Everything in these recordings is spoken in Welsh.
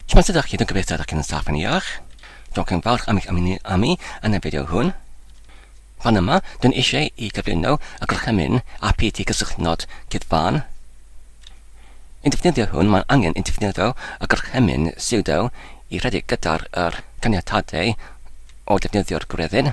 Shwmae sut ydych chi? Dwi'n gobeithio ydych chi'n yn saff yn iach. Dwi'n chi'n falch am eich ymuno â mi yn y fideo hwn. Fan yma, dwi'n eisiau i gyflwyno y gorchymyn a phyty cysylltnod gyda fan. Yn defnyddio hwn, mae'n angen yn defnyddio y gorchymyn sudo i rhedeg gyda'r er caniatadau o defnyddio'r gwreddyn.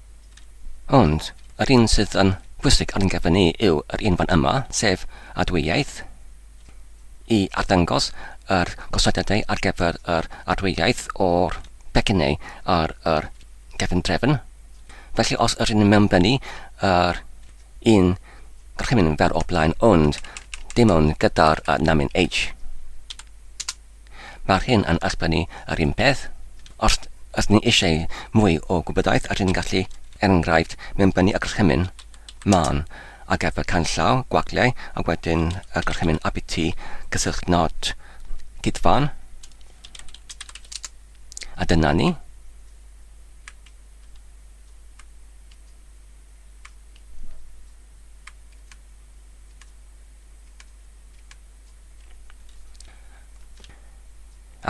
Ond, yr un sydd yn bwysig ar ein cyfer ni yw yr un fan yma, sef adweaith, i arddangos yr gosodiadau ar gyfer yr adweaith o'r pecynnau ar yr gefn drefn. Felly os yr un yn mewnbynnu yr un gorchymyn fer o blaen ond dim ond gyda'r uh, namin H. Mae'r hyn yn esblygu yr un peth. Os ydyn ni eisiau mwy o gwybodaeth ydyn ni'n gallu, er enghraifft, mewnbynnu y gorchymyn, man, ar gyfer canllaw, gwagliau, a wedyn y gorchymyn abt, cyswllt nod, cydfan. A dyna ni.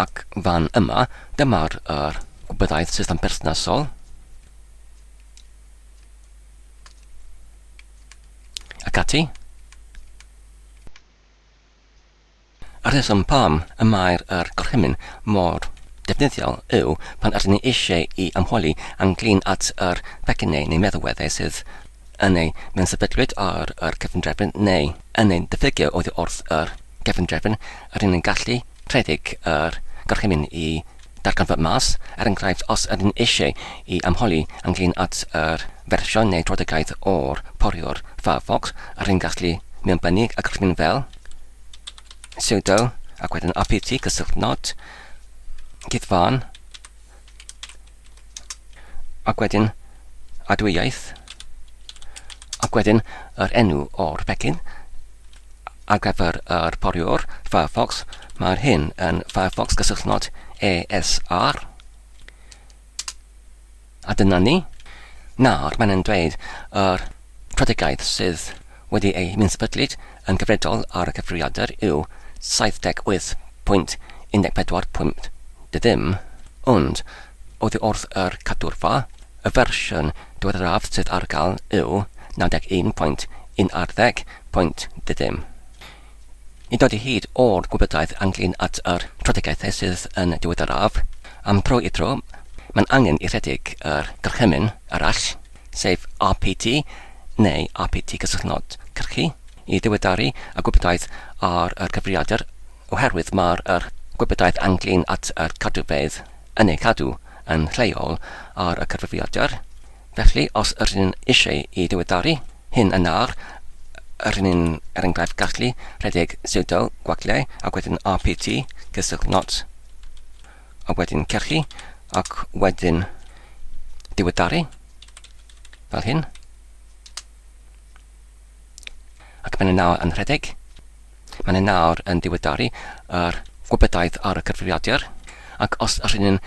Ac fan yma, dyma'r yr gwybyddiaeth system perthnasol. Ac ati. A'r rheswm pam y mae'r yr gorchymyn mor defnyddiol yw pan ydyn ni eisiau i ymholi ynglyn at yr pecynnau neu meddalweddau sydd yn eu menysefydliad ar yr cyfundrefn neu yn ein diffygio oddi wrth yr cyfundrefn, rydyn yn gallu rhedeg yr gorchymyn i ddarganfod mas, er enghraifft, os ydyn eisiau i ymholi ynglŷn at yr fersiwn neu drafodaeth o'r poriwr Firefox, rydyn gallu mewnbynnu y gorchymyn fel sudo ac wedyn apt cysylltnod cyfan Ac wedyn, adwyaeth. Ac wedyn, yr enw o'r pecyn. Ar gyfer yr poriwr Firefox, mae'r hyn yn Firefox gysylltnod ESR. A dyna ni. Nawr, mae'n yn dweud yr strategaeth sydd wedi ei myn-sefydlu yn gyfredol ar y cyfrifiadur yw 78.14.50, dy ddim, ond, oddi wrth yr cadwrfa, y fersiwn diweddaraf sydd ar gael yw 91.10.10, dy ddim. Nid oedi hyd o'r gwybodaeth ynglŷn at yr strategaethau sydd yn diweddaraf, am dro i dro, mae'n angen i rhedeg yr gorchymyn arall, sef RPT neu RPT Cysylltnod Cyrchu, i ddiweddaru y gwybodaeth ar yr cyfrifiadur oherwydd mae'r yr gwybodaeth ynglyn at yr cadwfeydd yn ei cadw yn lleol ar y cyfrifiadur. Felly, os yr yn eisiau i ddiweddaru hyn yn ar yr un er enghraifft gallu rhedeg sudo gwagle ac wedyn RPT Cysylltnod a wedyn cachu, ac wedyn diweddaru, fel hyn. Ac mae'n nawr yn rhedeg. Mae'n nawr yn diweddaru yr gwybodaeth ar y cyfrifiadur, ac os yr hyn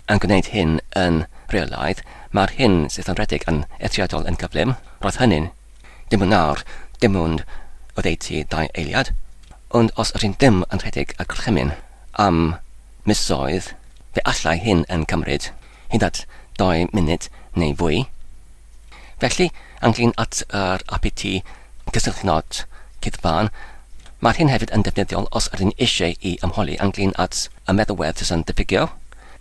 yn gwneud hyn yn reolaidd, mae'r hyn sydd yn rhedeg yn eithriadol yn gyflym, roedd hynny'n Dim yn nawr, dim ond oddeutu dau eiliad, ond os ydyn ddim yn rhedeg y gorchymyn am misoedd, fe allai hyn yn cymryd hyd at dou munud neu fwy. Felly, ynglŷn at yr APT cysylltnod cyfan, mae'r hyn hefyd yn defnyddiol os ydyn eisiau i ymholi ynglŷn at y meddalwedd sy'n diffygio,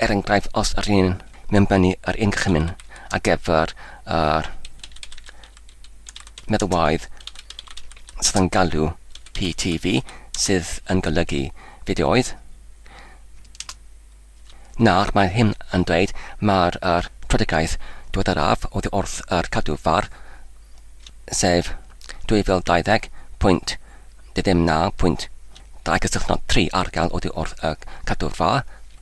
er enghraifft os ydyn Mae'n bennu ar ein cychwyn ar gyfer yr meddalwedd sydd yn galw PTV, sydd yn golygu fideoedd. Nawr mae hyn yn dweud mae'r er strategaeth diweddaraf oddi wrth yr cadw far, sef 2020.29.2 cysylltnod 3 ar gael oddi wrth y cadw far.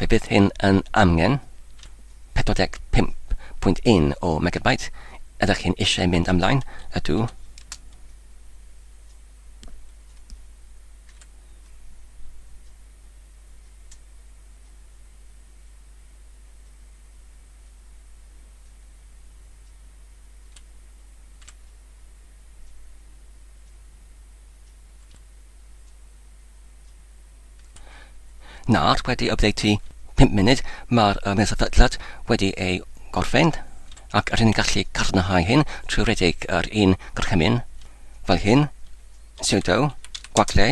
Fe bydd hyn yn angen 45.1 o megabyte, ydych chi'n eisiau mynd ymlaen? Ydw. Nawr, wedi updatey 5 munud, mae'r um, sefydliad wedi ei gorffen, ac rydyn ni'n gallu cadarnhau hyn trwy redeg yr un gorchymyn fel hyn, sudo, gwagle,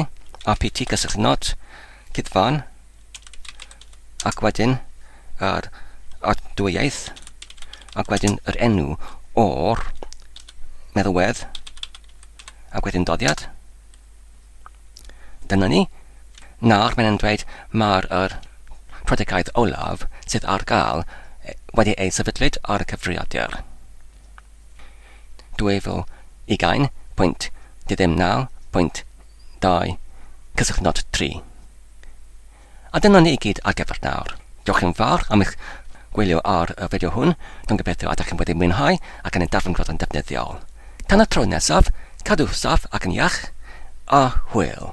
apt gysylltu not, cydfan, ac wedyn yr adwyaeth, ac wedyn yr enw o'r meddalwedd, ac wedyn doddiad. Dyna ni. Nawr mae'n dweud mae'r er prydegaeth olaf sydd ar gael wedi ei sefydlyd ar y cyfrifiadur. Dueddol ugain pwynt diddem naw pwynt dau cyswllt nod tri. A dyna ni i gyd ar gyfer nawr. Diolch yn fawr am eich gwylio ar y fideo hwn, dwi'n gobeithio ydych chi'n wedi mwynhau ac yn ei darllen roedd yn ddefnyddiol. Tan y tro nesaf, cadw saff ac yn iach, a hwyl!